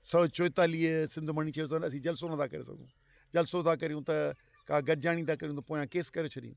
سؤ چوئيتاليهه سنڌو مڻي چيو ته اسين جلسو نٿا ڪري سگهون جلسو ٿا ڪريون ته ڪا گڏجاڻي ٿا ڪريون ته پويان ڪيس ڪري ڇڏيون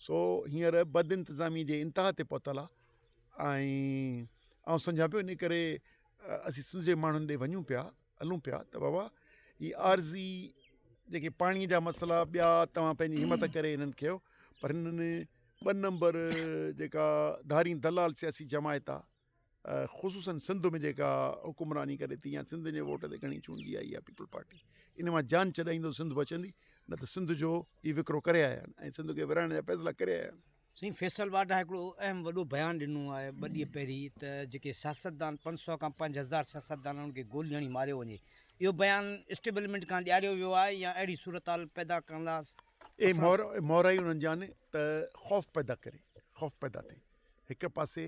سو هينئر بد انتظامي جي انتها تي پهتل آ ۽ آئون سمجهان پيو ان ڪري اسين سنڌ جي ماڻهن ڏي وڃون پيا هلون پيا ته بابا هي عارضي جيڪي پاڻي جا مسئلا ٻيا توهان پنهنجي همت ڪري هنن کي پر هنن ٻه نمبر جيڪا ڌارين دلال سياسي جماعت آ خصوصن سنڌ ۾ جيڪا حڪمراني ڪري ٿي يا سنڌ جي ووٽ تي گهڻي چونڊي آئي آ پيپلز پارٽي ان مان جان ڇڏائيندو سنڌ بچندي نه ته سنڌ جو هي وڪرو ڪري آيا آهن ۽ سنڌ کي ورهائڻ جا فيصلا ڪري آيا آهن سائين فيصل واڍا هڪڙو اهم وڏو بيان ڏنو آهي ٻه ڏينهن پهرين ته جيڪي سياستدان پنج سؤ کان پنج هزار سياستدان انهن کي گولي هڻي ماريو وڃي اهو بيان اسٽيبلمنٽ کان ڏياريو ويو آهي يا اهڙي صورتحال پيدا ڪرڻ لاء اي مور مورائي انهن جان ته خوف پيدا ڪري خوف پيدا ٿئي هڪ پاسي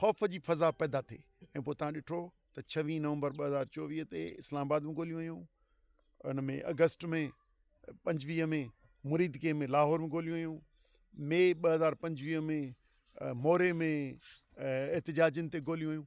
خوف جي فضا پيدا ٿي ۽ پوء تان ڏٺو ته ڇويهه نومبر ٻه هزار چوويهه تي اسلام آباد ۾ گوليون هيون ان ۾ اگسٽ ۾ پنجويهه ۾ مريد ڪي ۾ لاهور ۾ گوليون هيون مي ٻه هزار پنجويهه ۾ موري ۾ احتجاجين تي گوليون هيون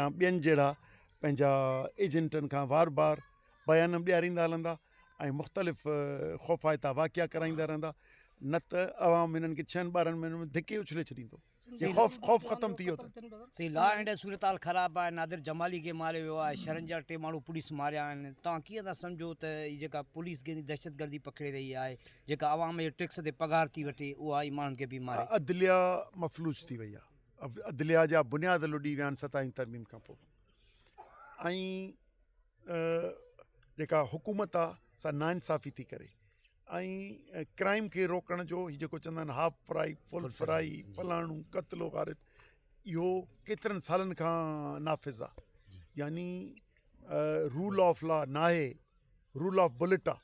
يا ٻين جهڙا پنهنجا ايجنٽن کان وار وار بيان ڏياريندا هلندا ۽ مختلف خوفائتا واقعا ڪرائيندا رهندا نه ته عوام هنن کي ڇهن ٻارهن مهينن ۾ ڌڪي اڇلي ڇڏيندو جي خوف خوف ختم ٿي ويو ته سي لا اینڊ صورتحال خراب آهي نادر جمالي کي ماريو ويو آهي شرن جا ٽي ماڻهو پوليس ماريا آهن توهان ڪيئن ٿا سمجھو ته هي جيڪا پوليس گيني دهشتگردي پکڙي رهي آهي جيڪا عوام جو ٽيڪس تي پگهار ٿي وٺي اها ئي ماڻهن کي بي ماري عدليه مفلوج ٿي وئي آهي عدليه جا بنياد لڏي ويا آهن ستائين ترميم کان پوء ۽ جيڪا حڪومت آ سا نا انصافي ٿي ڪري ۽ ڪرائيم کي روڪڻ جو هي جيڪو چوندا آهن هاف فرائي فل فرائي فلاڻو قتل و غارت اهو ڪيترن سالن کان نافذ آهي يعني رول آف لا ناهي رول آف بلٽ آ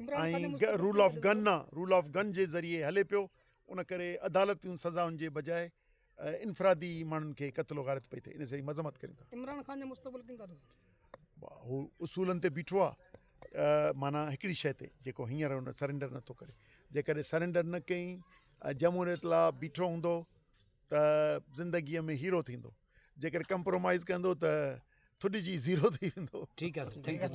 ۽ گه رول آف گن نه رول آف گن جي ذريعي هلي پيو ان ڪري عدالتيون سزائن جي بجاء انفرادي ماڻهن کي قتل و غارت پئي ٿئي ان سي مذمت ڪريون ٿا عمران خان جو مستقبل ڪين ڪاڌو هو اصولن تي بيٺو آهي مانا هڪڙي شيء تي جيڪو هينئر هن سرينڊر نٿو ڪري جيڪڏهن سرينڊر نه ڪيئين جمهوريت لا بيٺو هوندو ته زندگيء ۾ هيرو ٿيندو جيڪڏهن ڪمپرومائز ڪندو ته ٿڏجي زيرو ٿي ويندو ٺيڪ آهي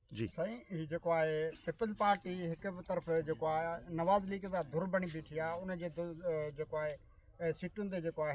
جي سائين هي جيڪو آهي پيپلز پارٽي هڪ طرف جيڪو آهي نواز ليگ جا ڌر بڻي بيٺي آهي ان جي جيڪو آهي سيٽن تي جيڪو آهي